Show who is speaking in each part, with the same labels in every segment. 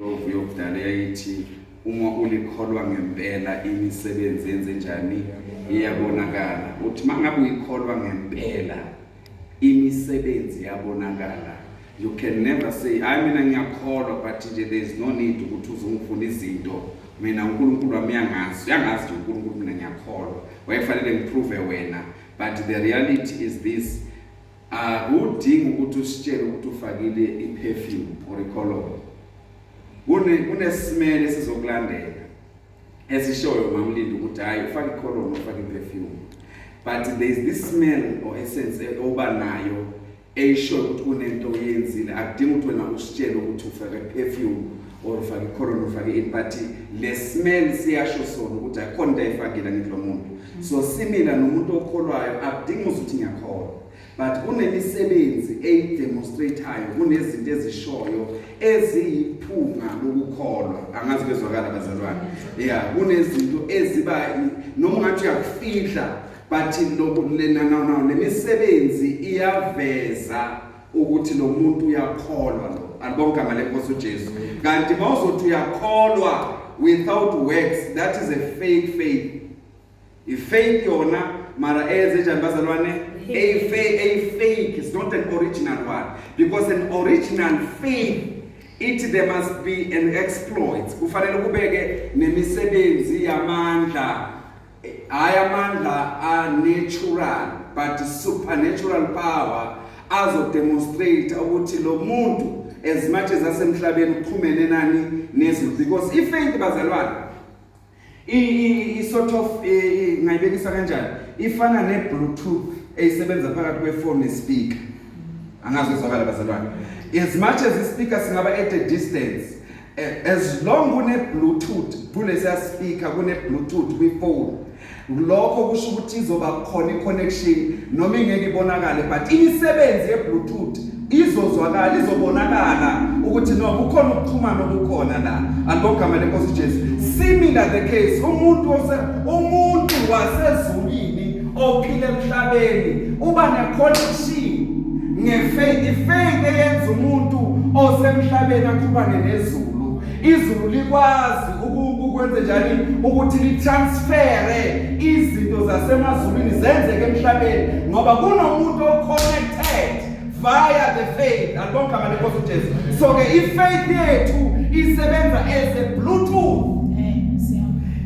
Speaker 1: Lovu yokudala yayithi uma ulikholwa ngempela imisebenzi yenze njani iyabonakala. Uthi mangabe uyikholwa ngempela imisebenzi yabonakala. You can never say hayi mina ngiyakholwa but nje there is no need ukuthi uzungifuna izinto mina uNkulunkulu wami uyangazi uyangazi nje uNkulunkulu mina ngiyakholwa wayefanele ngiprove wena but the reality is this Akudingi ukuthi usitshele ukuthi ufakile i-perfume or i-cologne. Kune kunesimele sizokulandela esishoyo mamlindi ukuthi hayi ufake i-cologne ufake i-perfume. But there is this smell or essence oba nayo eyishoyo ukuthi kunento oyenzile. Akudingi ukuthi wena usitshele ukuthi ufake i-perfume or ufake icorona ufake ini but le smell siyasho sona ukuthi ayikhona into ayifakile angithi lo muntu so simila nomuntu okholwayo akudingi uze uthi ngiyakholwa but kunemisebenzi eyidemonstratayo kunezinto ezishoyo eziyiphunga lokukholwa angazi bezwakala bazalwane ya kunezinto eziba noma ungathi uyakufihla but lemisebenzi iyaveza ukuthi lo muntu uyakholwa lo alibonke igama lenkosi uJesu kanti mawuzothi uyakholwa without works that is a fake faith i faith yona mara eze njani bazalwane a fake a fake is not an original one because an original faith ithi there must be an exploit kufanele kubeke nemisebenzi yamandla Hhayi amandla a-natural but supernatural power azodemonstrate ukuthi lo muntu as much as asemhlabeni uxhumene nani nezulu because ifaith bazalwane i-sort of ngayibekisa kanjani ifana ne-bluetooth eyisebenza phakathi kwefoni nespeaker angazi uzwakala bazalwane as much as ispeaker singaba at a distance Eh, as long kune-bluetooth kulesiya speaker kune-bluetooth kwifoni lokho kusho ukuthi izoba khona i-connection noma ingeke ibonakale but imisebenzi ye-bluetooth izozwakala izobonakala ukuthi no kukhona ukuxhumana okukhona la alibogama lenkosi jesu similar the case umuntu umuntu wasezulwini ophila emhlabeni uba neconnection ngefaith ifaith eyenza umuntu osemhlabeni akhubane nezulu izulu likwazi ukwenze njani ukuthi litransfere izinto zasemazulwini zenzeke emhlabeni ngoba kunomuntu oconnected via the faith alibonke amane nkosi uJesu so ke ifaith yethu isebenza as a bluetooth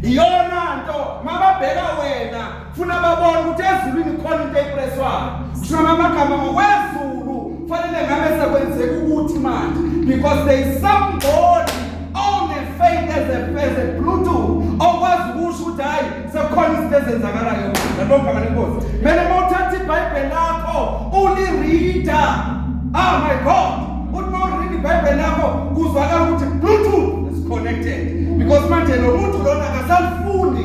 Speaker 1: iyona nto mababheka wena funa babone ukuthi ezulwini khona into eyipreswayo kusho amagama ngokwezulu kufanele ngabe sekwenzeka ukuthi manje because there is somebody on a faith as a, as a bluetooth okwazi ukusho ukuthi hhayi sekukhona izinto ezenzakalayo nalogama lenkosi kumele uma uthatha ibhayibheli lakho ulirida oh my god uthi uma urida ibhayibheli lakho kuzwakala ukuthi bluetooth is connected because manje lo muntu lona akasalufundi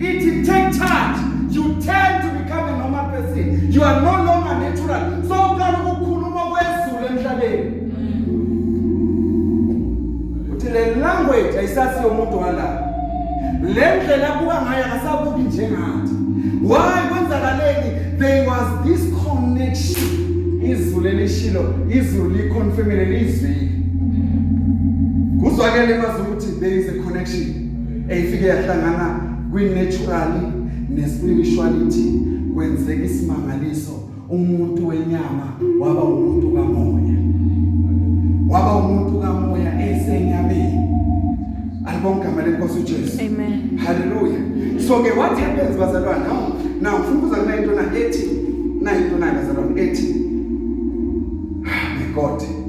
Speaker 1: It take charge. You tend to become a normal person. You are no longer natural. So uqala ukukhuluma kwezulu emhlabeni. Uthi le language ayisasiyo umuntu wala. Le ndlela abuka ngayo akasabuki njengathi. Why kwenzakaleni? There was this connection. Izulu elishilo, izulu liconfirmile lizwile. Kuzwakele mazi ukuthi there is a connection. eyifike yahlangana kwi-natural ne-spirituality kwenzeka isimangaliso umuntu wenyama waba umuntu kamoya waba umuntu kamoya esenyameni alibonke igama lenkosi uJesu amen haleluya so ke what happens bazalwane now now ngifuna ukuza kule into na ethi na into na bazalwane ethi ah, my god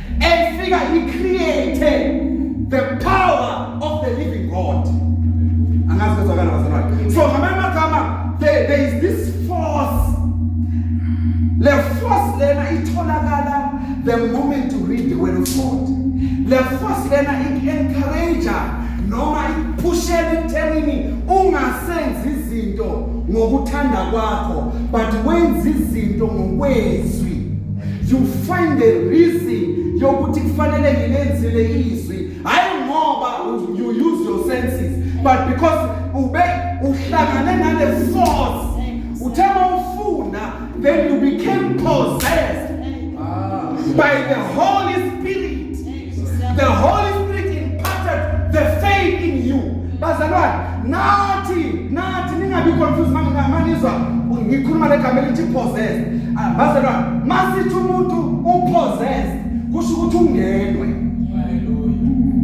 Speaker 1: efika i create the power of the living God angazi kwezwakala bazalwane so ngamanye amagama there, there is this force le force lena itholakala the moment you read the word of God le force lena i-encourager noma iphushela ekuthenini ungasenzi izinto ngokuthanda kwakho but wenza izinto ngokwezwi you find a reason yokuthi kufanele ngilenzile izwi hayi ngoba you use your senses but because ube uhlangane nale force uthe mawufuna then you became possessed ah. by the holy The Holy Spirit imparted the faith in you. Bazalwane, nathi nathi ningabi confused manizwa ngikhuluma legama elithi possessed. Ah, bazalwane, masithi umuntu upossessed kusho ukuthi ungenwe.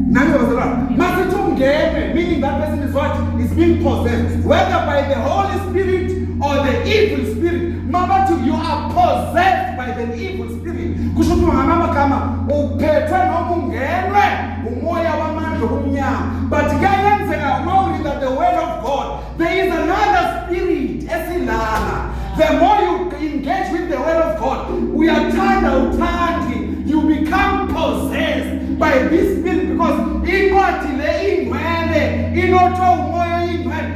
Speaker 1: Nani bazalwane, masithi ungenwe meaning that person is what is being possessed whether by the Holy Spirit or the evil spirit. Mabathi you are possessed by the evil spirit. kusho ukuthi ngamanye amagama uphethwe noma ungenwe umoya wamandla obumnyama but kuyayenzeka uma ulinda the word of god there is another spirit esilala the more you engage with the word of god uyathanda uthandi you become possessed by this spirit because incwadi le ingcwele inothwe umoya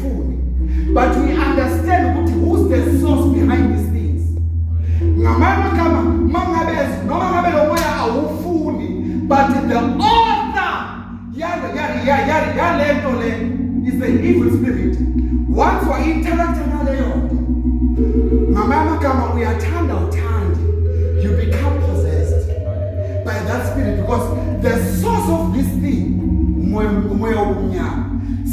Speaker 1: funi but we understand ukuthi who's the source behind these things ngamanye amagama mangabe noma ngabe lo moya awufuni but the author yale yale yale yale nto le is an evil spirit once wa interact naleyo ngamanye amagama uyathanda uthande you become possessed by that spirit because the source of this thing umoya umoya wobumnyama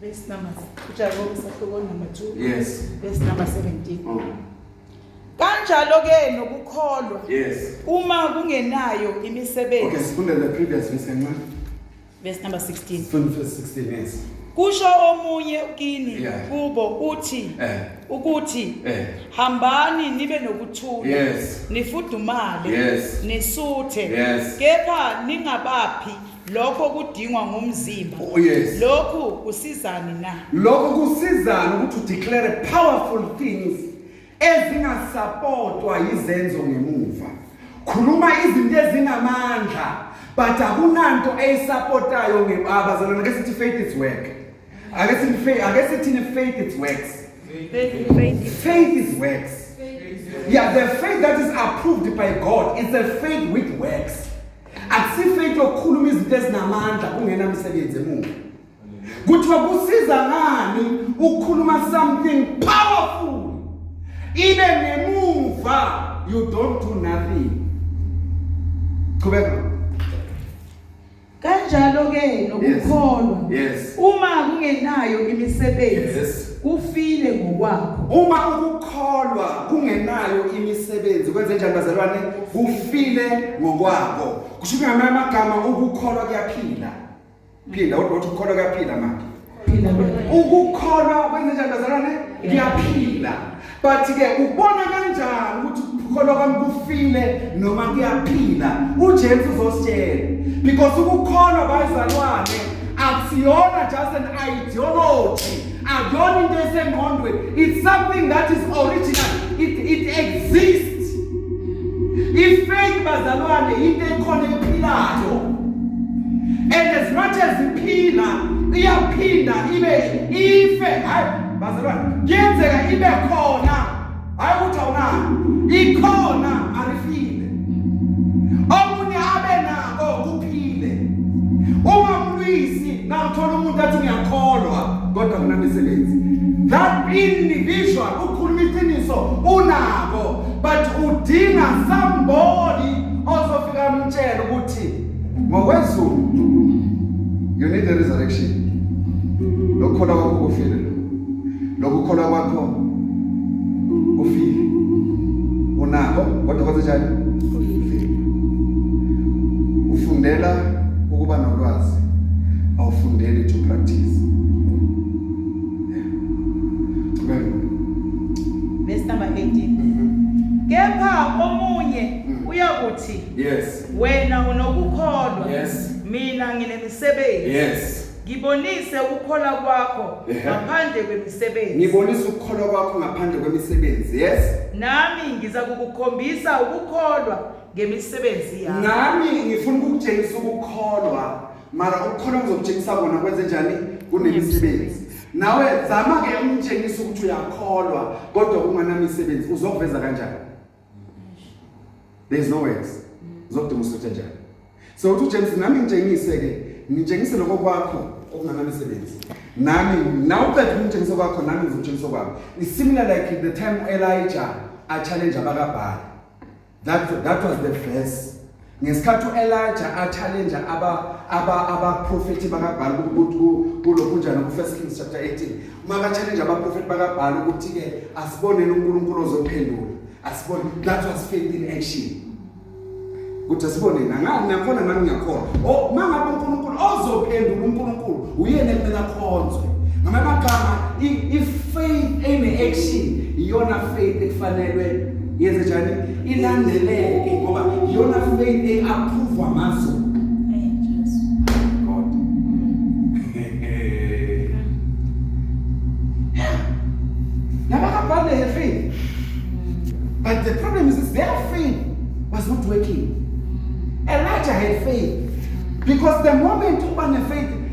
Speaker 2: Verse number uJakobe sahluko number 2. Yes.
Speaker 1: Verse number 17.
Speaker 2: Mm.
Speaker 1: Kanjalo
Speaker 2: ke nokukholwa. Yes. Uma kungenayo imisebenzi. Okay, sifunde the previous
Speaker 1: verse kancane. Verse number
Speaker 2: 16. Sifunde verse
Speaker 1: 16 yes. Kusho
Speaker 2: omunye kini yeah. kubo uthi eh. ukuthi eh. hambani nibe nokuthula yes. nifudumale yes. nisuthe yes. kepha ningabaphi lokho okudingwa ngumzimba Oh, yes. lokhu kusizani na lokho kusizana
Speaker 1: ukuthi udeclare powerful things ezingasapotwa yizenzo ngemuva khuluma izinto ezinamandla but akunanto eyisapotayo ngebabazalwana ake sithi faith is work ake sithi faith- ake sithini faith is works faith is works yeah the faith that is approved by god is a faith with works akusife into yokukhuluma izinto ezinamandla kungena msebenzi emuva kuthiwa kusiza ngani ukukhuluma something powerful ibe nemuva you don't do nothing qhubeka kanjalo
Speaker 2: ke nokukholwa yes. uma
Speaker 1: kungenayo
Speaker 2: imisebenzi yes. kufile ngokwakho. Uma ukukholwa
Speaker 1: kungenayo imisebenzi kwenze njani bazalwane? Kufile ngokwakho. Kusho ukuthi ngamanye amagama ukukholwa kuyaphila. Phinda kodwa uthi ukukholwa kuyaphila manje. Phila wena. Ukukholwa kwenze njani bazalwane? Kuyaphila. But ke ubona kanjani ukuthi ukukholwa kwami kufile noma kuyaphila? UJesu uzositshela because ukukholwa bayizalwane akusiyona just an ideology akuyona into esengqondweni it's something that is original it, it exists ifaith bazalwane into ekhona ephilayo and as much as iphila iyaphinda ibe ife hayi bazalwane kuyenzeka ibe khona hayi ukuthi awunayo ikhona arifile omunye abe nako kuphile uma umlwisi nawuthola umuntu athi ngiyakholwa kodwa kunamisebenzi that individual ukhuluma iqiniso unako but udinga somebody ozofika amtshela ukuthi ngokwezulu you need a resurrection lokukholwa kwakho kufile lokukholwa kwakho kufile unako kodwa kwenzenjani ufundela ukuba nolwazi awufundeli to practice verse
Speaker 2: number 18 mm-hmm. kepha omunye mm. uyakuthi yes Wena unokukholwa. Yes. Mina nginemisebenzi. Yes.
Speaker 1: Ngibonise
Speaker 2: ukukholwa kwakho Ehe. ngaphandle kwemisebenzi. Ngibonisa ukukholwa
Speaker 1: kwakho ngaphandle kwemisebenzi. Yes. Nami ngiza
Speaker 2: kukukhombisa ukukholwa ngemisebenzi yakho. Nami ngifuna
Speaker 1: ukukutshengisa ukukholwa. Mara ukukholwa ngizokutshengisa kona kwenze njani? Kunemisebenzi. Nawe zama ke umtshengisa ukuthi uyakholwa kodwa unganamisebenzi uzokuveza kanjani? there's no words zokudinga usuthe njalo so uthi uJames nami ngitshengise ke ngitshengise lokho kwakho okunganamisebenzi nami nawe uqeda umtshengisa kwakho nami ngizotshengisa kwami is similar like the time Elijah a challenge abakabhali that that was the verse Ngesikhathi uElijah achallenja aba aba abaprofeti bakaBhali kulokhunjana ku1 Kings chapter 18, maka challenge abaprofeti bakaBhali ukuthi ke asiboneni uNkulunkulu ozophendula. Asibone that was faith in action. Kuthi asibone nangani nakhona nami ngiyakhona. Oh mangabe uNkulunkulu ozophendula uNkulunkulu uyena ekumele akhonzwe. Ngamanye amagama i faith in action iyona faith ekufanelwe yenze njani? ilandeleke ngoba iyona faith eapprovwa mazo Nabakabhale her faith. But the problem is their faith was not working. Elijah had faith because the moment uba ne-faith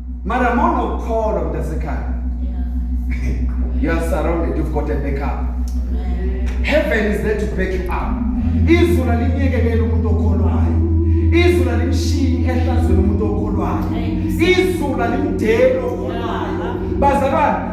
Speaker 1: Mara mona ukholwa mntasekhaya. You are surrounded, you've got a backup. Heaven is there to back you up. Izulu alinyekelele umuntu okholwayo. Izulu alimshiyi ehlazweni umuntu okholwayo. Izulu alimdeli okholwayo. Bazalwane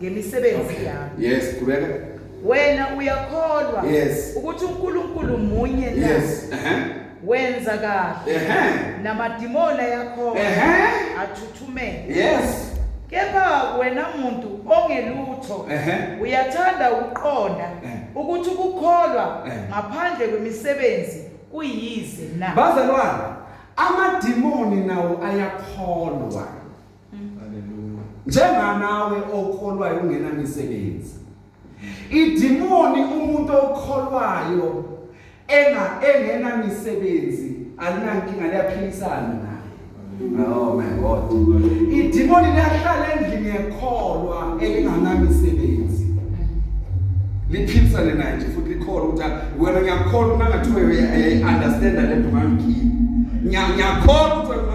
Speaker 2: ngemisebenzi okay. yami yes qhubeka
Speaker 1: wena
Speaker 2: uyakholwa yes ukuthi
Speaker 1: uNkulunkulu
Speaker 2: munye na yes uh
Speaker 1: -huh. wenza
Speaker 2: kahle uh -huh. namadimona yakho uh -huh. athuthumele yes
Speaker 1: kepha
Speaker 2: wena muntu ongelutho uyathanda ukuqonda ukuthi ukukholwa ngaphandle kwemisebenzi kuyize na bazalwane
Speaker 1: amadimoni nawo ayakholwa njenganawe okholwayo ungenamisebenzi idimoni umuntu okholwayo enga engenamisebenzi alinankinga liyaphilisana naye oh my god idimoni liyahlala endlini yekholwa elinganamisebenzi liphilisane naye nje futhi likholwa ukuthi wena ngiyakholwa uma ngathi uye understand le nto ngangikhipa ngiyakholwa ukuthi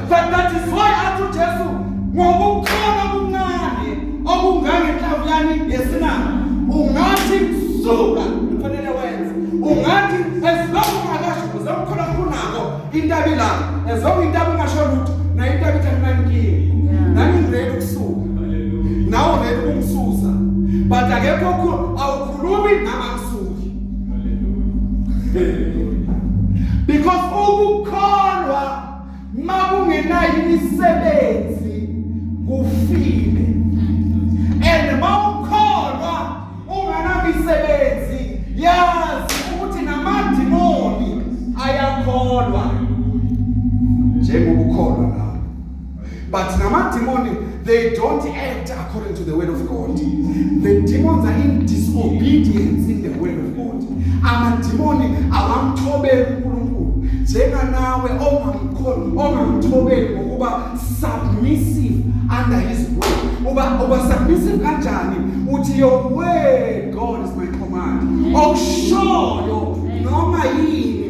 Speaker 1: But that is why athi uJesu ngokukhona kuncane okungangenhlavu yani yesinanga ungathi suka kufanele wenze ungathi as long akasho uzamkhona kunako intaba ilapho as long intaba ungasho lutho na intaba ithi anginankinga nami ngiredi ukusuka nawe ngeke ukungisusa but akekho awukhulumi nama ngisuki because ukukholwa makungenayo imisebenzi kufile and mawukholwa unganamisebenzi yazi ukuthi namadimoni ayakholwa njengokukholwa But namadimoni, they don't act according to the word of God. The demons are in disobedience in the word of God. Amadimoni awamthobeli uNkulunkulu njenganawe ongamkhoni ongamthobeli ngokuba submissive under his will. Uba uba submissive kanjani? Uthi your word God is my command. Okushoyo noma yini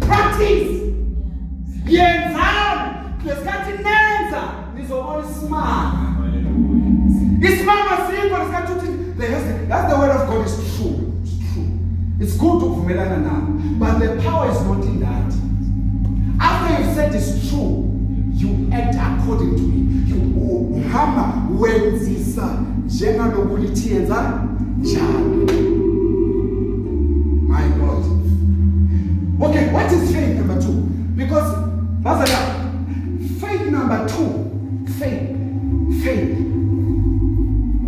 Speaker 1: practice yenzani ngesikhathi nenza nizobona isimanga isimanga sikho ngesikhathi uthi that's the word of God is true it's true it's good ukuvumelana nawo but the power is not in that after you said it's true you act according to it you uhamba wenzisa njengalokhu lithi yenza njalo My God. Okay, what is faith number two? Because, Mazala, faith number two, faith, faith.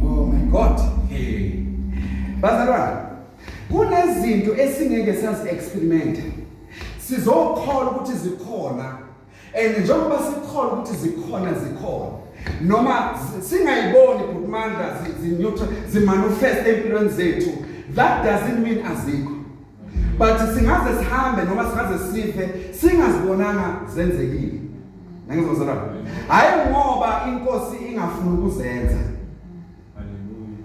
Speaker 1: Oh my God. Hey. Bazalwana, kunezinto esingeke sazi experiment. Sizokholwa ukuthi zikhona and njengoba sikholwa ukuthi zikhona zikhona noma singayiboni bhuti mandla zineutral zimanifest empilweni zethu that doesn't mean azikho but singaze sihambe noma singaze sife singazibonanga zenzekile nangizozela hayi ngoba inkosi ingafuna ukuzenza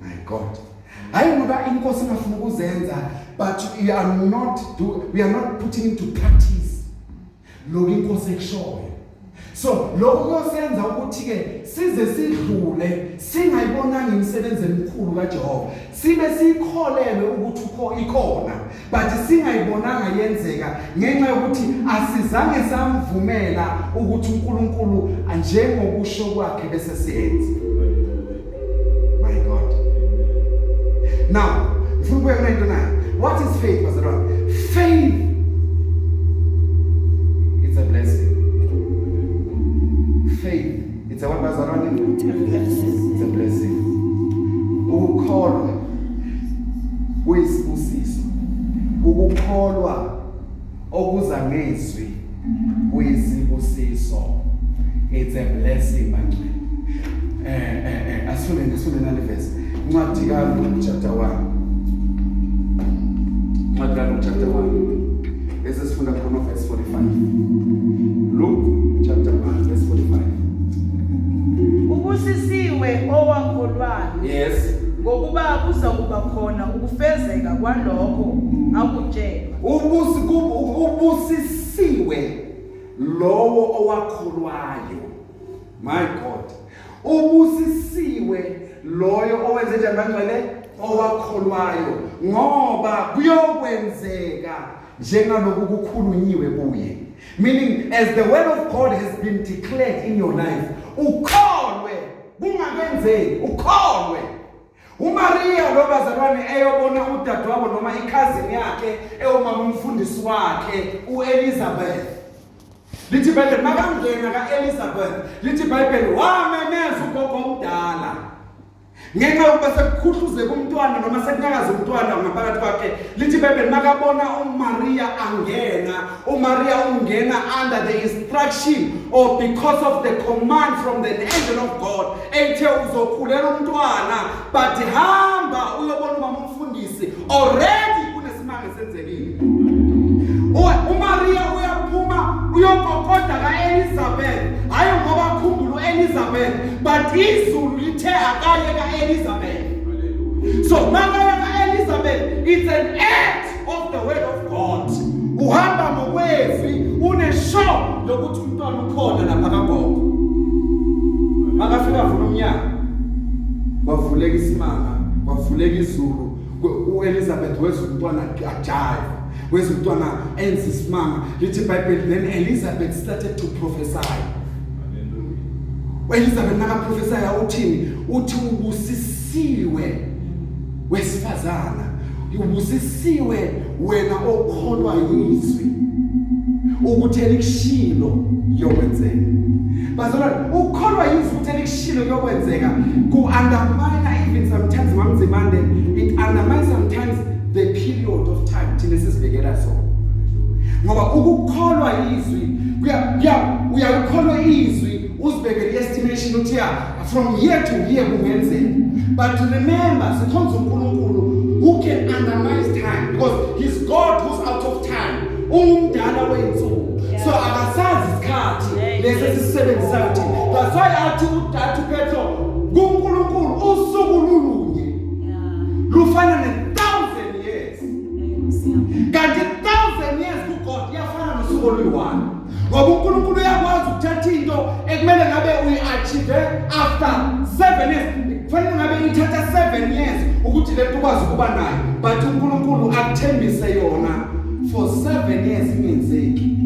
Speaker 1: my god hayi ngoba inkosi ingafuna ukuzenza but we are not do, we are not putting into practice lokho inkosi ekushoyo so lokho kuyosenza ukuthi-ke size sidlule singayibonanga imisebenzi emikhulu kajehova sibe siyikholelwe ukuthi ukho ikhona but singayibonanga yenzeka ngenxa yokuthi asizange samvumela ukuthi unkulunkulu njengokusho kwakhe bese siyenze My God. Now, ngifuna ukubuya kule nto nayo. What is faith, bazalwane? Faith it's a blessing. Faith it's a what, bazalwane? It's a blessing. It's a blessing. Ukukholwa kuyisibusiso. Ukukholwa Okuza ngezwi kuyisibusiso. It's a blessing manje. Eh eh eh asifune ngisifune nale verse. Incwadi kaLuka chapter 1. Incwadi kaLuka chapter 1. Bese sifunda khona verse 45. Luke chapter 1 verse 45.
Speaker 2: Ubusisiwe owakholwayo. Yes.
Speaker 1: Ngokuba kuza
Speaker 2: kuba khona ukufezeka kwalokho akutshelwe. Ubusi ubusisiwe
Speaker 1: lowo owakholwayo. My God. Ubusisiwe loyo owenze njani bangcwele owakholwayo ngoba kuyokwenzeka njengaloku kukhulunyiwe kuye meaning as the word of God has been declared in your life ukholwe kungakwenzeki ukholwe UMariya lo bazalwane eyobona udadewabo noma ikhazini yakhe ewumama umfundisi wakhe uElizabeth lithi ibhayibheli makangena ka-elizabeth lithi ibhayibheli wamemeza ugogo omdala ngenxa yokuba sekukhuhluzeka umntwana noma sekunyakaza umntwana ngaphakathi kwakhe lithi ibhayibheli makabona umariya angena uMaria ungena under the instruction or because of the command from the angel of God ethe uzokhulela umntwana but hamba uyobona umama umfundisi already kunesimanga senzekile uMaria uyaphuma uyokokoda kaElizabeth hayi ngoba akhumbula uElizabeth but izulu lithe akaye kaElizabeth so makaya kaElizabeth it's an act of the word of God uhamba ngokwezwi unesho lokuthi umntwana ukhona lapha kagogo makafika vula umnyango kwavuleka isimanga kwavuleka izulu uElizabeth wezwa umntwana ajayiva wezwa umntwana enza isimanga lithi ibhayibheli then Elizabeth started to prophesy Elizabeth nakaprofesayo uthini uthi ubusisa Siwe wesifazana ubusisiwe wena okholwa yizwi ukuthi elikushilo yokwenzeka bazalwane ukholwa yizwi ukuthi elikushilo yokwenzeka ku undermine even sometimes mamzimande it undermines sometimes the period of time thina sizibekela so ngoba ukukholwa yizwi kuya uyakholwa izwi uzibekele estimation uthi ya From here to here kungenzeka. But remember, sikhonza uNkulunkulu who can analyze time because he's God who's out of time. Ungumdala weyinsuku. So akasazi isikhathi lesi esisebenzisayo thina. That's why athi uDathu Petro kuNkulunkulu usuku lulunye. Lufana ne thousand years. Kanti thousand years ku God yafana nosuku oluyi-one. ngoba uNkulunkulu uyakwazi ukuthatha into ekumele ngabe uyi-achieve after seven years kufanele ngabe ithatha seven years ukuthi le nto ukwazi ukuba nayo but uNkulunkulu akuthembise yona for seven years ingenzeki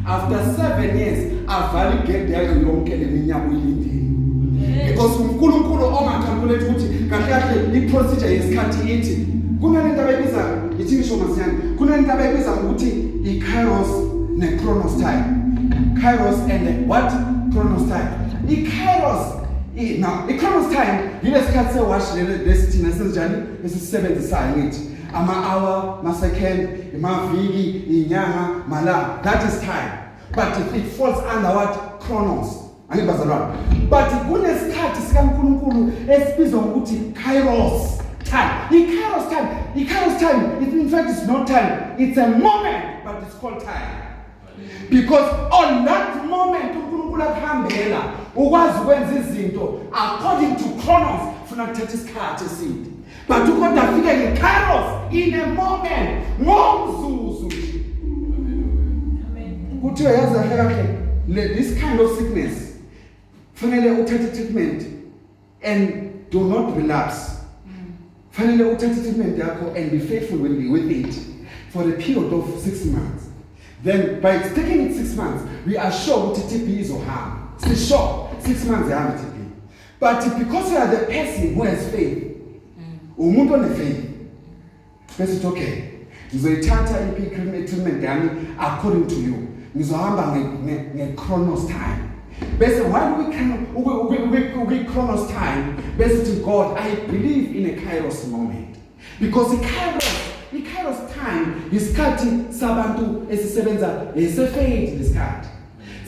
Speaker 1: after seven years avale igede yayo yonke le minyaka uyilindile because uNkulunkulu ongakhalkulate ukuthi kahle kahle i-procedure yesikhathi ithi kunalento abayibiza Yithi ngisho masinyane kunento abayibiza ngokuthi i-kairos ne-chronos time. Kairos and the what? Chronos time. I-kairos now i-chronos time yilesikhathi sewash lesithina senjani esisebenzisayo ngithi ama-hour ma-second imaviki inyanga malanga that is time but it falls under what chronos Angithi bazalwane, but kunesikhathi sikaNkulunkulu esibizwa ngokuthi kairos time. I-kairos time, i-kairos time, it in fact is not time, it's a moment, but it's called time. Because on that moment uNkulunkulu akuhambela ukwazi ukwenza izinto according to chronos funa kuthatha isikhathi eside. But ukoda afike ngeKairos in a moment ngomzuzu nje. Kuthiwa yazi kahle kahle le this kind of sickness fanele uthathe treatment and do not relapse. Fanele uthathe treatment yakho and be faithful when you with it for a period of 6 months. Then by taking it 6 months we are sure ukuthi TB izohamba. Sisho 6 months ihamba TB. But because you are the person who has faith, umuntu onefaith bese uthi okay ngizoyithatha i-treatment yami according to you ngizohamba nge-chronos time bese while ukwi-chronos time bese uthi god i believe in a kairos moment because ikairos ikairos time yisikhathi sabantu esisebenza lesefade lesikhathi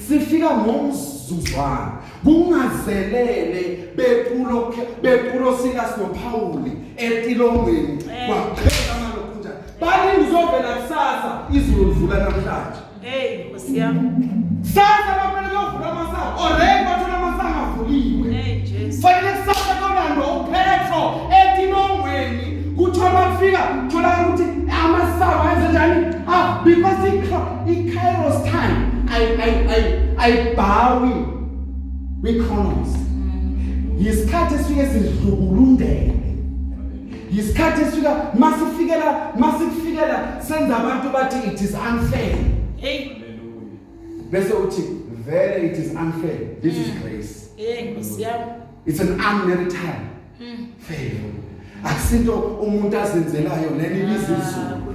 Speaker 1: sifika ngomzuzwana kungazelele bekulo bekulo sika sinophawuli etilongweni kwaphela malokhunja bani ngizovela kusasa izulu livula namhlanje
Speaker 2: Hey,
Speaker 1: Nkosi yami. Sasa bafana kuyovula
Speaker 2: amasango. Already bathola
Speaker 1: amasango avuliwe. Hey, Jesu. Fanele kusasa kolandwa uphetho etinongweni. Kuthiwa bafika thola ukuthi amasango ayenze njani? Ah, because i-Kairos time I I I I bow we chronos. Mm. Yisikhathi esifike sidlukulundele. yisikhathi esifika masifikela masikufikela senza abantu bathi it is unfair hey bese uthi vele it is unfair this is mm. grace hey nkosi yami
Speaker 2: it's an
Speaker 1: unmerited mm. favor akusinto umuntu azenzelayo leli bizizulu ah,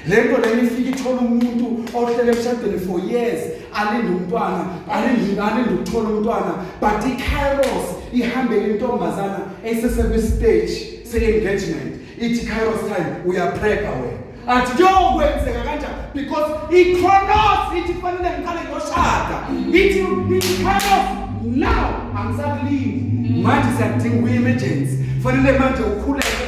Speaker 2: le nto lena
Speaker 1: ifike ithole umuntu ohlele emshadweni for years alinde umntwana alinde alinde ukuthola umntwana but ikairos ihambele intombazana eyisesekwistage se-engagement ithi kairos time uyaprega wena athi kuyokwenzeka kanjani because ikronos ithi kufanele ngiqale ngiyoshada ithi ikairos now angisakulindi manje siyakudinga uye-emergency fanele manje ukhuleke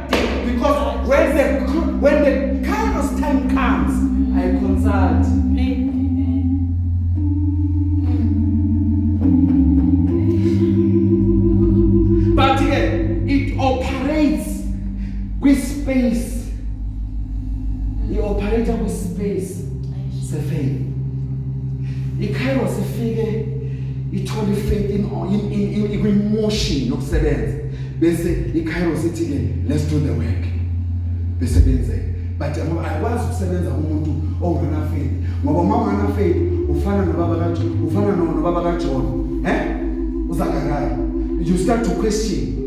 Speaker 1: because when the when the kairos time comes i consult but ke it operates with space i operator with space sefaith ikairos ifike ithole ifaith in in in, in, in motion nokusebenza bese iCairo sithi ke let's do the work bese benzeka but ngoba ayikwazi ukusebenza kumuntu ongana faith ngoba uma ungana faith ufana nobaba kaJohn ufana nobaba kaJohn eh uzakakala you start to question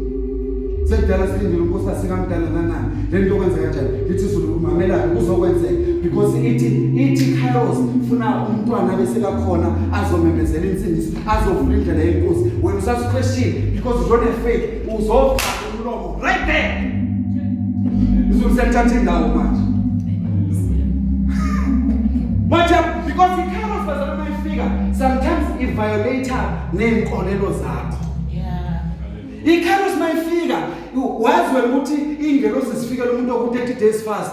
Speaker 1: sekudala silindile ukuthi asikamdala nanani le nto kwenzeka kanjani lithi izulu umamela kuzokwenzeka because ithi ithi kairos funa umntwana bese kakhona azomemezela insindiso azovula indlela yenkosi wena usasuqeshile because you don't have faith uzofa umlomo right there izulu selithatha indawo manje manje because ikharos bazalwa uma ifika sometimes iviolator ney'nkolelo zakho ikharos uma ifika wazi wena ukuthi iy'ngelosi zifikela umuntu oku-30 days fast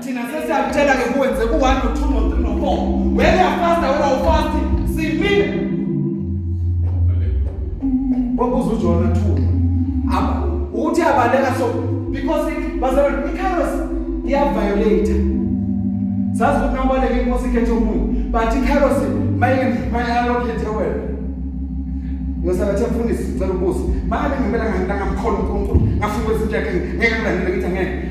Speaker 1: thina sesiyakutshela ke kuwenze ku-one no-two no-three no-four wena uyafasta wena ufasti simile kwabuza ujona two ukuthi abaleka so because bazalwane i-carlos iyaviolate sazi ukuthi nabaleka inkosi ikhethe umuntu but i-carlos mayalokhethe wena ngiyosabathe mfundisi cela ubuze makabe ngempela ngangamkhona unkulunkulu ngafuna ukwenza into yakhe ngeke ngilandele ngithi angeke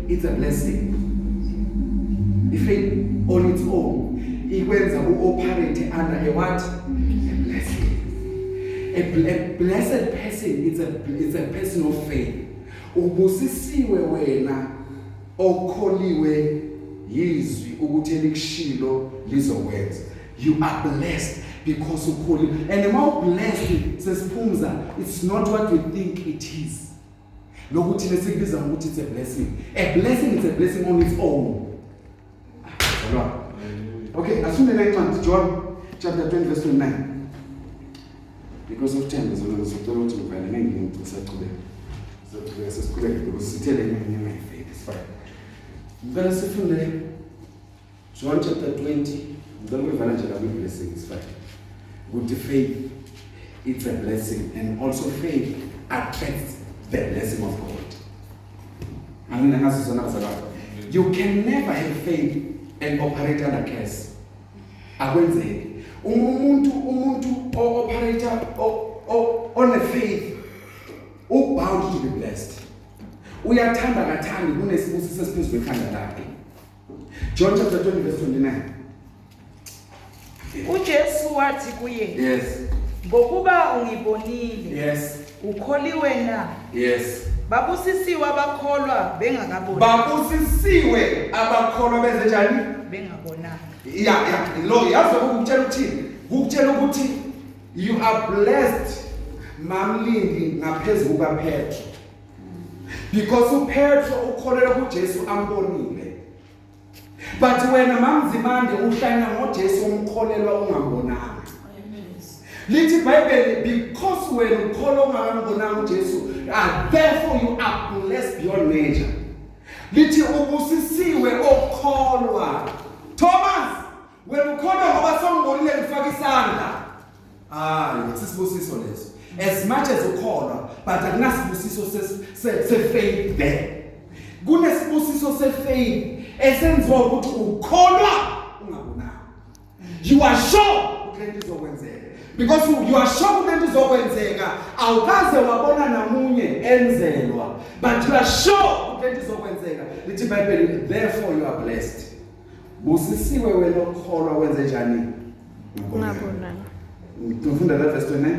Speaker 1: It's a blessing. If it on its own ikwenza uoperate under a what? A blessing. A, bl a blessed person it's a it's a person of faith. Ubusisiwe wena okholiwe yizwi ukuthi elikushilo lizokwenza. You are blessed because ukholiwe. And uma ublessed sesiphumza it's not what we think it is. lokhu thina sikubiza ngokuthi it's a blessing a blessing is a blessing on its own Zalwa. okay asifundele incwadi john chapter 20 verse 29 because of time zona ngizocela ukuthi ngivale ngeke ngisachubeka sizocela sesiqhubeke ngokusithele ngenyama yefake sifike ngicela sifunde John chapter 20 ngicela uyivala nje kabi blessings but ukuthi faith it's a blessing and also faith attracts the blessing of God angina ngaso sona bazalwane you can never have faith and operate under curse akwenzeki uma umuntu umuntu o-operate on a faith ubound to be blessed uyathanda kathandi kunesibusiso esiphezulu ekhanda lakhe John chapter 20 verse 29.
Speaker 2: UJesu wathi kuye, Yes.
Speaker 1: Ngokuba
Speaker 2: ungibonile. Yes.
Speaker 1: Ukholiwe na?
Speaker 2: Yes.
Speaker 1: Babusisiwe
Speaker 2: abakholwa bengakaboni. Babusisiwe
Speaker 1: abakholwa benze njani? Bengabonanga.
Speaker 2: Ya ya
Speaker 1: lo yazi ukutshela ukuthini? Ukutshela ukuthi you are blessed mamlindi ngaphezulu kaPetro. because uPetro ukholelwa kuJesu ambonile but wena mamzimande uhlanya ngoJesu umkholelwa ungambonanga lithi ibhayibheli because wena ukholwa ungakambonanga uJesu and therefore you are blessed beyond measure lithi ubusisiwe okholwa Thomas Wena ukholwa ngoba songibonile ngifaka isandla. Hayi, sisibusiso leso. As much as ukholwa, but akunasibusiso se-faith there. Kunesibusiso se-faith esenziwa ukuthi ukholwa ungabonanga. You are sure ukuthi lento izokwenzeka. because you are sure ukuthi izokwenzeka awukaze wabona namunye enzelwa but you are sure ukuthi izokwenzeka lithi ibhayibheli therefore you are blessed Busisiwe wena okholwa wenze njani? Ngabona.
Speaker 3: Ngifunda
Speaker 1: la verse 29.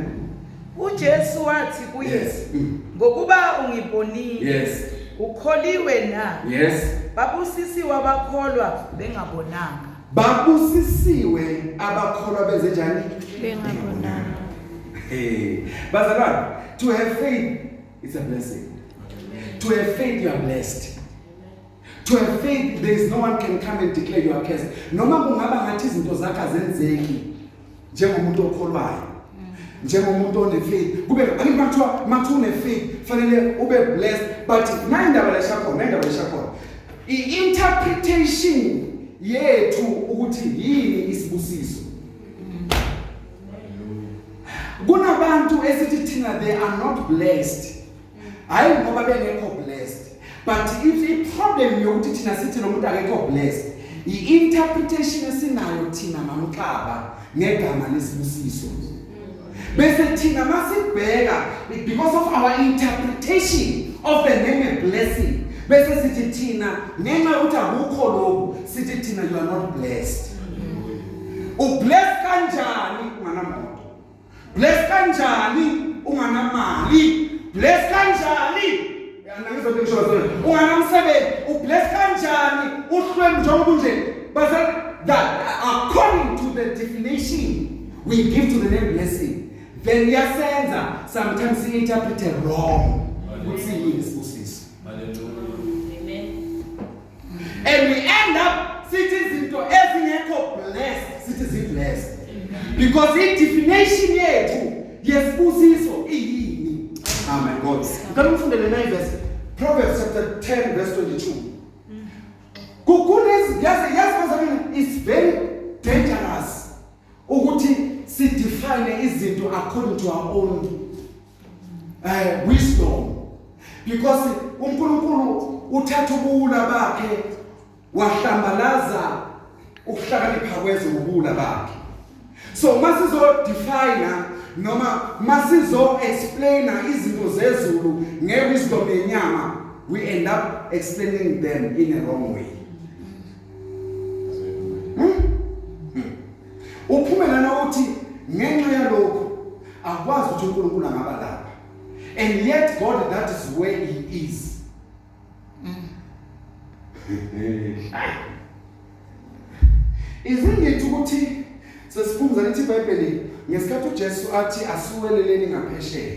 Speaker 1: UJesu
Speaker 2: wathi kuye, yes. Mm.
Speaker 1: ngokuba
Speaker 2: ungibonile. Yes.
Speaker 1: Ukholiwe
Speaker 2: na? Yes.
Speaker 1: Babusisiwe
Speaker 2: abakholwa bengabonanga. Babusisiwe
Speaker 1: abakholwa benze njani? Bengabonanga.
Speaker 3: Hey,
Speaker 1: bazalwane, to have faith it's a blessing. To have faith you are blessed. To have faith there is no one can come and declare you are cursed. Noma kungaba ngathi izinto zakhe azenzeki njengomuntu okholwayo. Njengomuntu one faith. Kube angithi bathiwa mathi une faith fanele ube blessed but nayi indaba leshakhona, nayi indaba leshakhona. I interpretation yethu ukuthi yini isibusiso kunabantu esithi thina they are not blessed hayi ngoba bengekho blessed but if i problem yokuthi thina sithi lo muntu akekho blessed i interpretation esinayo thina mamxaba ngegama lesibusiso bese thina masibheka because of our interpretation of the name of blessing bese sithi thina ngenxa ukuthi akukho lokhu sithi thina you are not blessed ublessed kanjani Bless kanjani unganamali? Bless kanjani? Yana ngizothi ngisho zona. Unganamsebenzi, ubless kanjani uhlwembu njengoba unje? Base that according to the definition we give to the name blessing then yasenza sometimes si interpret wrong ukuthi yini isibusiso. Hallelujah. and we end up sithi izinto ezingekho blessed sithi zi blessed because i definition yethu yesibusiso iyini amen god ngicela ufundele na verse Proverbs chapter 10 verse 22 kukhona izinto yazi yazi is very dangerous ukuthi si define izinto according to our own uh, wisdom because uNkulunkulu uthatha ubuwula bakhe wahlambalaza ukuhlakanipha kwezwe ubuwula bakhe so uma sizo define noma masizo explain izinto zezulu ngewisdom yenyama we end up explaining them in a wrong way uphumela nokuthi ngenxa yalokho akwazi ukuthi uNkulunkulu angaba lapha and yet God that is where he is izingithi ukuthi sesifunza lithi iBhayibheli ngesikhathi uJesu athi asukeleleni ngaphesheya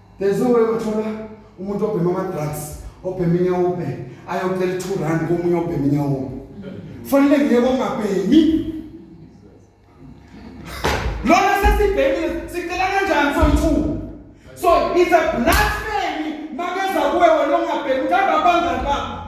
Speaker 1: there's no way wathola umuntu obhema ama-drugs obhema inyawube ayocela i-two rand komunye obhema inyawube fanele ngiyeke ongabhemi lona sesibhemile sicela kanjani soyi-two so it's a blasphemy makeza kuwe wena ongabhemi uthanda abangani bakho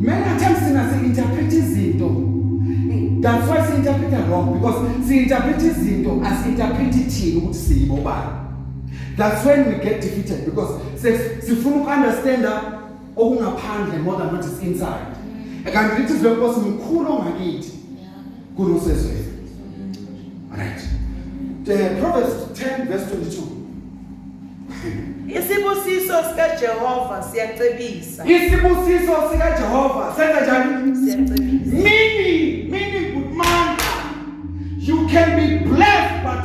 Speaker 1: Many times thina si-interpret izinto that's why si-interpreta wrong because si-interpret izinto asi-interpret ithini ukuthi siyibo bani that's when we get defeated because sifuna uku-understanda okungaphandle more than what is inside kanti lithi izwi lenkosi mkhulu ongakithi Kuri usezwe. Right. The Proverbs 10 verse 22. Isibusiso sikaJehova
Speaker 2: siyacebisa. Isibusiso
Speaker 1: sikaJehova senza njani? Siyacebisa. Mini,
Speaker 2: mini
Speaker 1: good man. You can be blessed but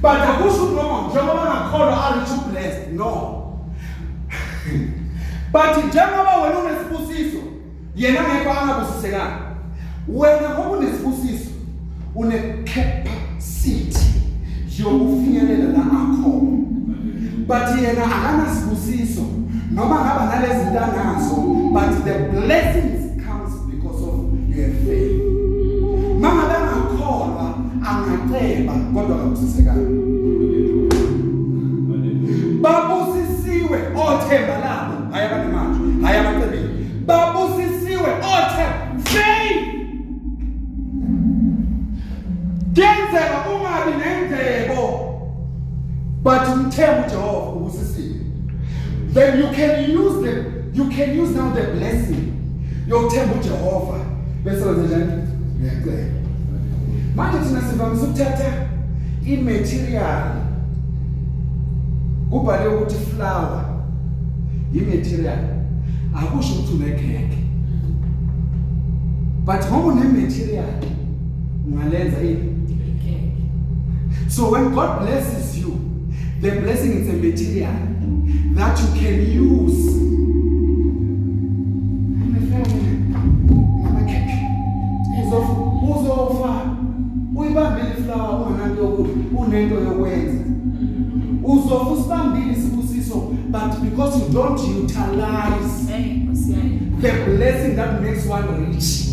Speaker 1: But akusho ukuthi noma njengoba ngakholwa are you blessed? No. But njengoba wena unesibusiso yena ngeke angabusisekanga. Wena ngoba unesibusiso une capacity yokufinyelela la akhona. But yena akanasibusiso noma ngaba nalezi ntanazo but the blessings because of you have failed mama bengakholwa angaceba kodwa akusisekanga babusisiwe othemba labo hayi abanemanje hayi abacebile babusisiwe othemba faith kenzeka ungabi nendlebo but mthembu Jehova ubusisiwe then you can use them You can use now the blessing yokuthemba uJehova bese wenza njani? Ngiyacela. Manje thina sivamise ukuthatha i-material kubhale ukuthi flower yi-material akusho ukuthi unekhekhe but ngoba une-material ungalenza ini so when god blesses you The blessing is a material that you can use. Uzofa uyibambile iflawa unento unento yokwenza. Uzofa usibambile isibusiso but because you don't utilize the blessing that makes one rich.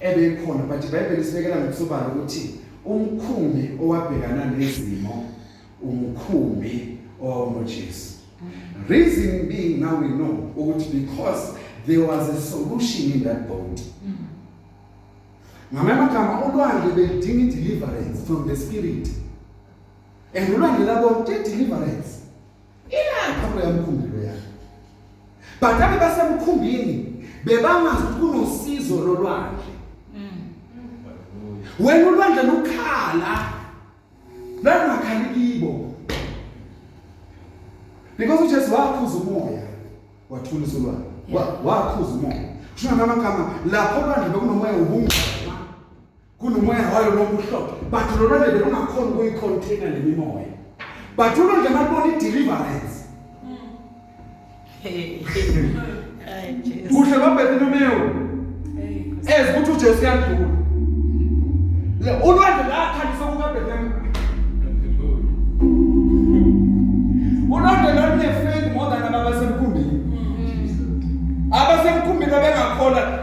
Speaker 1: ebekhona but iBhayibheli isibekela ngokusobala ukuthi umkhumbi owabhekana nezimo umkhumbi owawunoJesu reason being now we know ukuthi because there was a solution in that boat ngamanye amagama ulwandle belidinga i-deliverance from the spirit and ulwandle labo te-deliverance Ilapha kuya mkhumbilo yakhe. Badabe basemkhumbini bebangazi ukuthi kunosizo lolwandle. Wena ulwandle lukhala. Langakhali kibo. Because uJesu wakhuza umoya wathulisa ulwandle. Wakhuza umoya. Kusho ngamagama lapho olwandle bekunomoya ubungcwele. kunomoya wayo noma uhlobo but lona nje bengakhona ukuyicontaina le mimoya but ulo nje malibona i-deliverance kuhle babheke nomewu ezi ukuthi ujesu uyandlula le ulwandle lakhalisa kukabhekemu ulwandle lolunefendi more than ababasemkhumbini abasemkhumbini abengakhona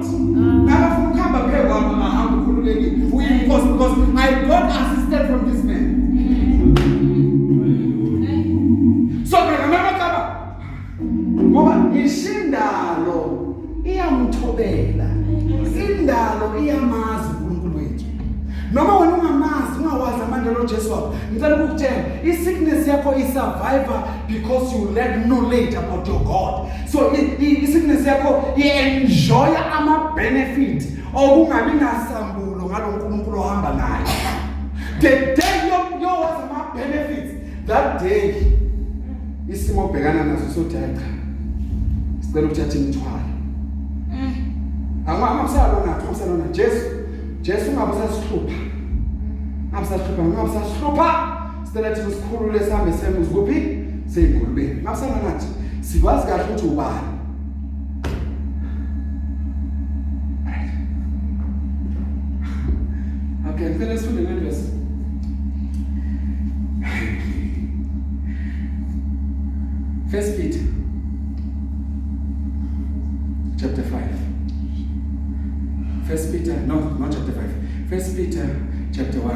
Speaker 1: Ngakafuna ukuhamba phezu kwami ngahamba ukhululekile. Uyinkosi because I got assistance from this man. So mina mama kaba ngoba ishindalo iyamthobela. Indalo iyamazi uNkulunkulu wethu. Noma wena ungamazi ungawazi amandla loJesu wakho. Ngicela ukukutshela i-sickness yakho i-survivor because you lack knowledge about your God. So isickness yakho i-enjoy ama-benefit okungabi nasambulo ngalo nkulunkulu ohamba naye the day yowazi ama-benefits that day isimo obhekana naso sothi hayi cha sicela ukuthatha imithwalo mm. angakusalona akusalona jesu jesu ungabe usasihlupha ungabe usasihlupha ungabe usasihlupha Sicela thina sikhulule sihambe semuzi kuphi? Seyingulubeni. Makusana nathi sikwazi kahle ukuthi ubani. Okay, ngicela sifunde le verse. First Peter chapter 5. First Peter, no, not chapter 5. First Peter chapter 1.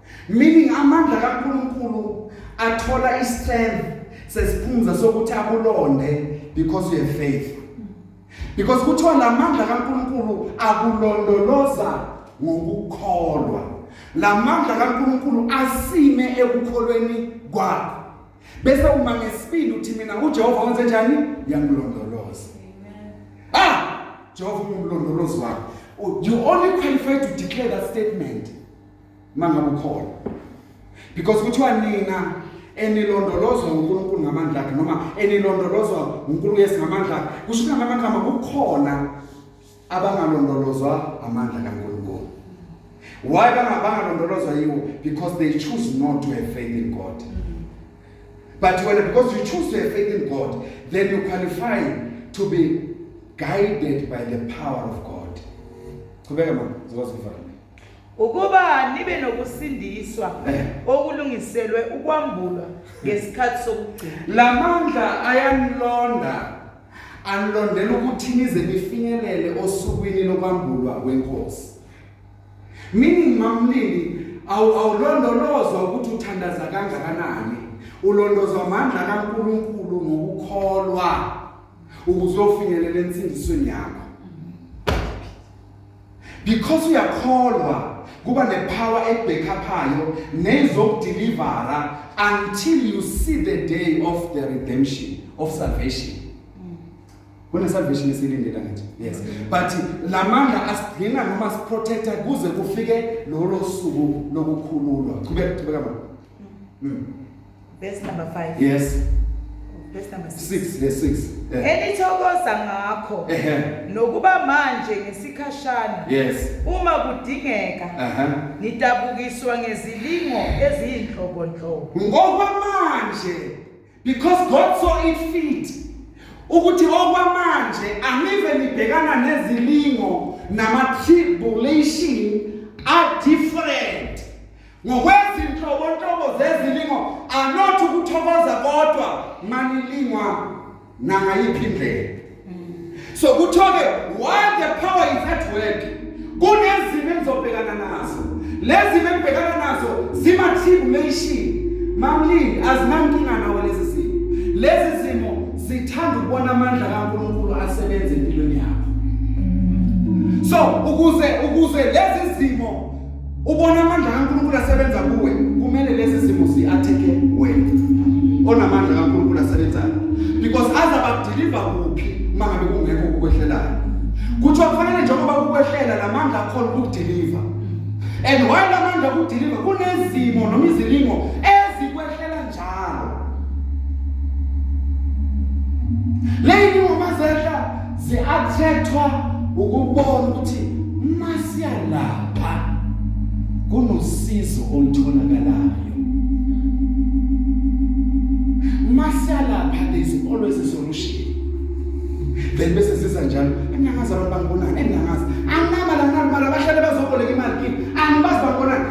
Speaker 1: meaning amandla kaNkulunkulu athola istrength sesiphumza sokuthi akulonde because you have faith because kuthiwa lamandla kaNkulunkulu akulondoloza ngokukholwa lamandla kaNkulunkulu asime ekukholweni kwakho bese uma ngesibili uthi mina uJehova wenze njani uyangilondoloza ah Jehova ungumlondolozi wakho you only qualify to declare that statement mangabe ukhona because kuthiwa nina enilondolozwa uNkulunkulu ngamandla akhe noma enilondolozwa uNkulunkulu yes ngamandla akhe kusho ukuthi ngamanye amagama kukhona abangalondolozwa amandla kaNkulunkulu why bangabangalondolozwa yiwo because they choose not to have faith in God but when because you choose to have faith in God then you qualify to be guided by the power of God qhubeka mama zikwazi ukuvala Ukuba
Speaker 2: nibe nokusindiswa okulungiselwe ukwambulwa ngesikhathi sokugcina. La mandla ayanilonda
Speaker 1: anilondela ukuthi nize nifinyelele osukwini lokwambulwa kwenkosi. Meaning mamlindi awulondolozwa ukuthi uthandaza kangakanani. Ulondozwa amandla kaNkuluNkulu ngokukholwa ukuzofinyelela ensindisweni yakho. because uyakholwa kuba nepower ebhekhaphayo nezokudelivera until you see the day of the redemption of salvation kune salvation esilindela ngithi yes but lamandla asigcina noma siprotecta kuze kufike lolo suku lokukhululwa qhubeka qhubeka mama mm.
Speaker 2: Verse number 5. Yes. Verse number 6.
Speaker 1: 6 verse 6. Eh. Enithokoza
Speaker 2: ngakho Ehe. nokuba manje ngesikhashana Yes. uma
Speaker 1: kudingeka
Speaker 2: Aha. nidabukiswa ngezilingo eziyinhlobonhlobo. Ngokwamanje
Speaker 1: because God saw it fit ukuthi okwamanje angive nibhekana nezilingo nama tribulation are different ngokwezinhlobonhlobo zezilingo anothi ukuthokoza kodwa manilingwa nangayiphi indlela so kuthiwa-ke while the power is at work kunezimo engizobhekana nazo lezi zimo engibhekana nazo zima-tribulation mamlindi azinankinga nawo lezi zimo lezi zimo zithanda ukubona amandla kankulunkulu asebenza empilweni yakho so ukuze ukuze lezi zimo Ubona amandla kaNkulunkulu asebenza kuwe, kumele lezi zimo ziatheke wena. Onamandla kaNkulunkulu asebenzayo. Because azabadeliver kuphi mangabe kungekho ukwehlelayo. Kuthi kufanele njengoba kukwehlela lamandla akhona ukudeliver. And why lamandla ukudeliver kunezimo noma izilingo Njalo. Leyini ngoma zehla ziathethwa ukubona ukuthi masiyalapha kunosizo olutholakalayo. Masiyalapha there's always a solution. then bese siza njalo angingazi abantu bangibonani engingazi anginaba la nginabala bahlale bazoboleka imali kimi angibazi bangibonani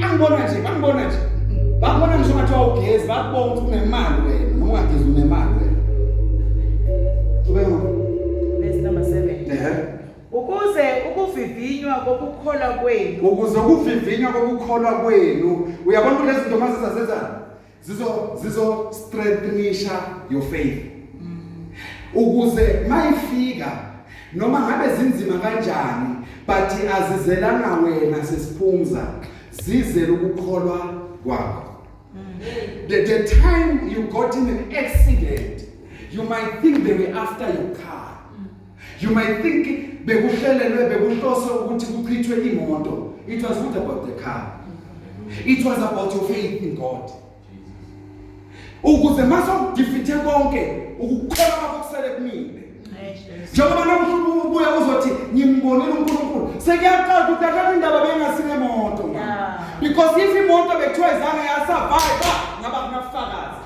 Speaker 1: Bangibona nje, bangibona nje. Bangibona ngisho ngathi wawugezi, bakubona ukuthi unemali wena, noma ungagezi unemali wena. Ube ngo.
Speaker 2: Verse number 7. Ehhe. Ukuze ukuvivinywa kokukholwa kwenu Ukuze ukuvivinywa kokukholwa kwenu, uyabona ukuthi lezi zinto mazizasenza zizo zizo strengthenisha your faith ukuze mayifika noma ngabe zinzima kanjani but azizelana wena sesiphumza zizela ukukholwa kwakho the, the time you got in an accident you might think they were after your car You might think bekuhlelelwe bekuhloswe ukuthi kuchithwe imoto. It was not about the car. It was about your faith in God. Ukuze masokudifithe konke ukukholwa kwakho kusele kumile. Njengoba nakuhlubuka ubuya uzothi ngimbonile uNkulunkulu. Sekuyaqala ukuthi akakho indaba bengasine moto. Because if imoto bekuthiwa izange yasurvive ngaba kunafakazi.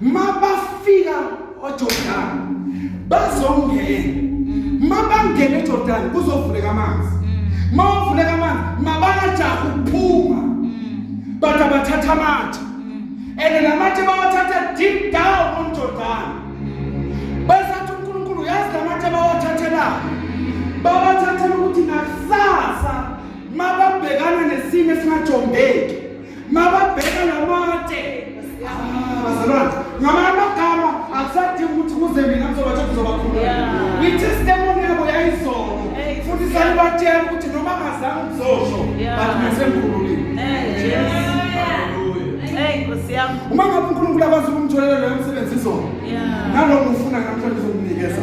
Speaker 2: mabafika ojordani bazongena mabangena ejordani kuzovuleka amanzi mawuvuleka amanzi mabanajaha ukuphuma but abathatha amatshe and
Speaker 1: namatshe bawathatha deep down on jordani basathi unkulunkulu uyazi namatshe bawathathelayo babathathela ukuthi nakusasa mababhekana nesimo esingajombeki mababheka lamatshe ah, bazalwane ngamanye amagama akusadingi ukuthi kuze mina ngizobatshela ngizobakhulula itestimony yabo yayizono futhi salibatshela ukuthi noma ngazange ngizosho but ngisemkhululile uma ngabe unkulunkulu akwazi ukumtholela loyo msebenzi izona nalowo ufuna namhlanje uzokunikeza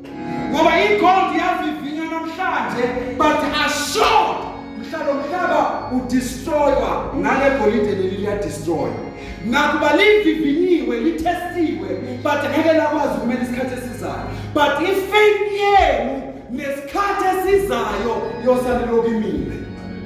Speaker 1: ngoba igold yavivinywa namhlanje but asure mhla lo mhlaba udestroywa ngale golide leli liyadestroywa nakuba livivinyiwe lithestiwe but ngeke lakwazi ukumela isikhathi esizayo but ifaith yenu nesikhathi esizayo yosalilokimile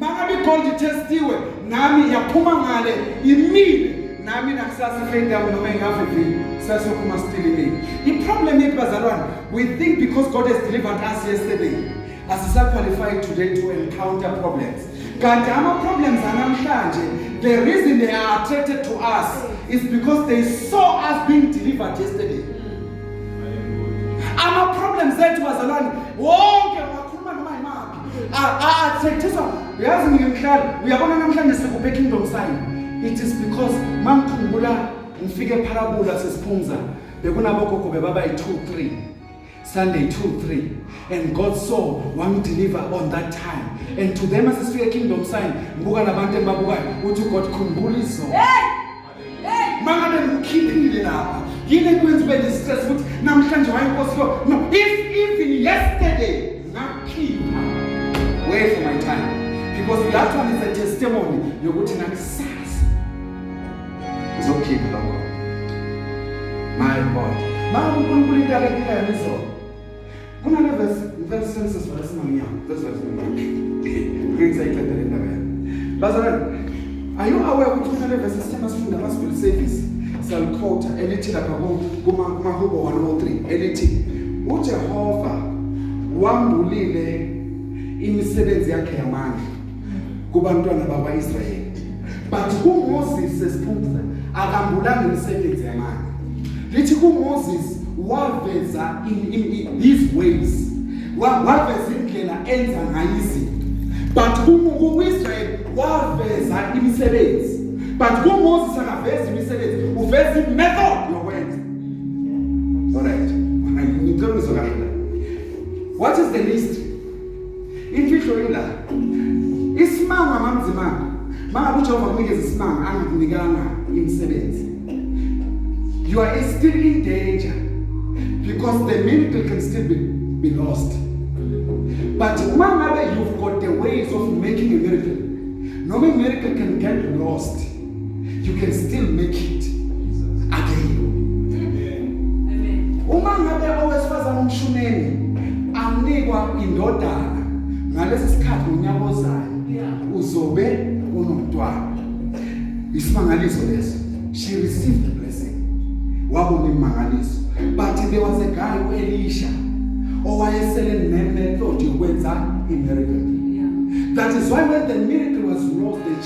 Speaker 1: Mangabe igold itestiwe nami yaphuma ngale imile nami nakusasa ifendi yami noma ingavivile sasophuma stilimile iproblem yethu bazalwane we think because god has delivered us yesterday asisaqualify today to encounter problems kanti ama-problems anamhlanje the reason they are attracted to us is because they saw us being delivered yesterday ama-problems ethu bazalwane wonke athetheswa yazi mina mhlali uyabona namhlanje sikuphe kingdom sign it is because mangikhumbula ngifike epharabula sesiphumza bekunabogogo bebaba yi-two three sunday two three and god saw wangideliver on that time and to them asesifike kingdom sign ngibuka nabantu engibabukayo uthi ugod khumbula izona mangabe ngikhiphile lapha yini ekwenza ube ne-stress ukuthi namhlanje wayinkosi yo no if even yesterday ngakhipha way for my time because that one is a testimony yokuthi nakusasa ngizokhipha lokho my god ma unkulunkulu into akephilayo izona Kunale verse ngicela sisebenzise sivale singamnyama verse verse ngimanje. Ngicela iqeda le ndaba yami. Bazalwane, are you aware ukuthi kunale verse esithema sifunda ama civil service salikhotha elithi lapha kuma kuma hubo 103 elithi uJehova wambulile imisebenzi yakhe yamandla kubantwana bakwaIsrayeli but uMoses sesiphupha akambulanga imisebenzi yamanje lithi kuMoses waveza in, in, in his ways waveza indlela enza ngayo izinto but kuIsrael waveza imisebenzi but kuMoses akaveza imisebenzi uveza imethod yokwenza alright ngicela uzokala what is the list Imfihlo ila. Isimanga mamzimanga. Mangabe uJehova kunikeza isimanga angikunikanga imisebenzi. You are still in danger because the miracle can still be, be lost. But uma ngabe you've got the ways of making a miracle, noma i-miracle can get lost. you can still make it again uma ngabe owesifazane umshumeni anikwa indodana ngalesi sikhathi unyaka ozayo uzobe unomntwana isimangaliso leso she received the blessing wabona imangaliso but there was a guy uElisha owayesele nemethod yokwenza imiracle that is why when the miracle was lost the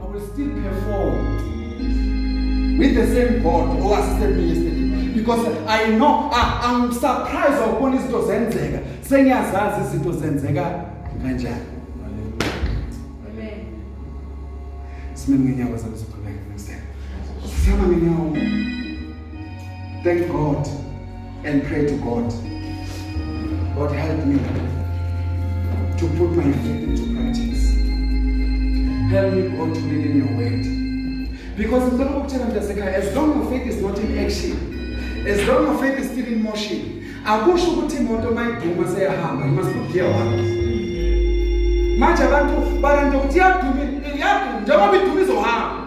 Speaker 2: I will still perform with the same God who assisted me yesterday because I know I, I'm surprised ukubona izinto zenzeka sengiyazazi izinto zenzeka kanjani sime ngenyawo zami siqhubeke next time sisama ngenyawo thank God and pray to God. God help me to put my faith into practice. Help me God to live in your word. Because ngicela ukutshela mntasekhaya as long your faith is not in action, as long your faith is still in motion, akusho ukuthi imoto mayiduma seyahamba, you must put gear one. Manje abantu balento ukuthi yaduma, yaduma njengoba iduma izohamba.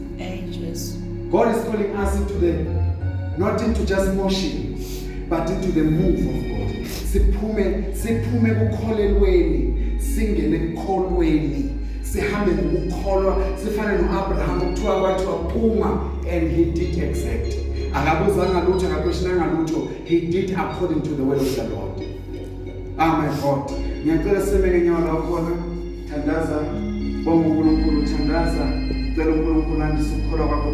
Speaker 3: God is calling
Speaker 2: us into the not into just motion but into the move of God siphume siphume kukholelweni singene ekukholweni sihambe ngokukholwa sifane noAbraham kuthiwa kwathiwa phuma and he did exact akabuzanga lutho akakhoshinanga lutho he did according to the word of the Lord Ah my God. Ngiyacela sime ngenyawo la khona. Thandaza. Bonga uNkulunkulu, thandaza. Cela uNkulunkulu andise ukukholwa kwakho.